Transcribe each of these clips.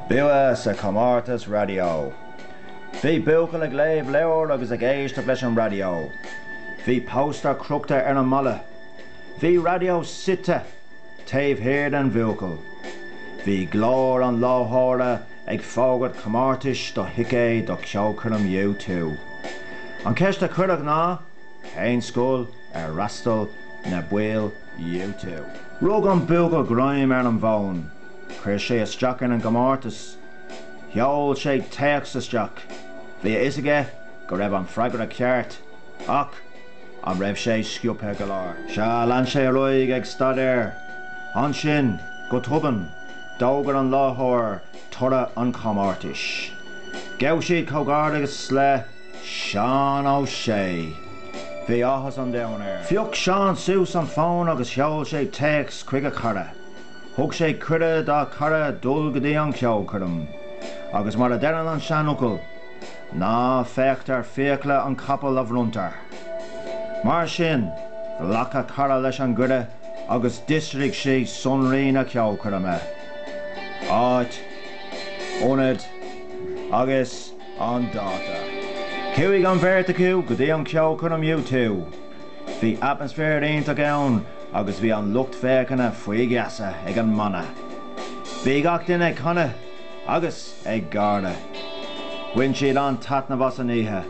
Bua sa chomórtas raidió. Bhí buachaill ag léamh leabhair agus ag éisteacht leis an raidió. Bhí póstaer crochta ar an mballa. Bhí raidió suite taobh thiar den bhuachaill. Bhí glór an láithreora ag fógairt comórtais do thicéid do cheolchoirm U2. An cheist a cuireadh ná, Cén scoil ar fhreastail na baill U2. Rug an buachaill greim ar an bhfón. Chuir sé isteach ar an gcomórtas. Sheol sé téacs isteach. Bhí a fhios aige go raibh an freagra ceart, ach an raibh sé sciobtha go leor? Sea, lean sé ar aghaidh ag staidéar. Ansin, go tobann, d'fhógair an láithreoir toradh an chomórtais. Ghabh siad comhghairdeachas le. Seán Ó Sé. Bhí áthas an domhain air. Phioc Seán suas an fón agus sheol sé téacs chuig a chara. Thug sé cuireadh dá chara dul go dtí an cheolchoirm. Agus mar a deireann an seanfhocal, Ná féachtar fiacla an chapaill a bhronntar. Mar sin, ghlac a chara leis an gcuireadh agus d'fhiosraigh sé sonraí na ceolchoirme. Áit, ionad agus. an dáta. Chuaigh an bheirt acu go dtí an cheolchoirm U2. Bhí atmaisféar iontach ann agus bhí an lucht féachana faoi gheasa ag an mbanna. Bhí gach duine ag canadh agus ag gáire. Bhain siad an-taitneamh as an oíche.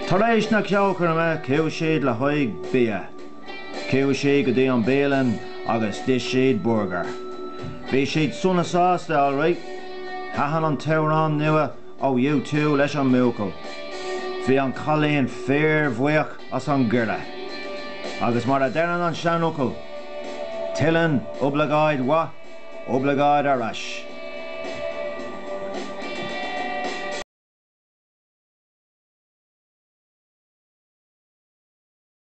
Tar éis na ceolchoirme chuaigh siad le haghaidh bia. Chuaigh siad go dtí an bhialann agus d'ith siad burgar. Bhí siad sona sásta alright. Thaitin an t-amhrán nua ó U2 leis an mbuachaill. Bhí an cailín fíorbhuíoch as an gcuireadh. Agus mar a deireann an seanfhocal, tuilleann oibleagáid mhaith oibleagáid ar ais.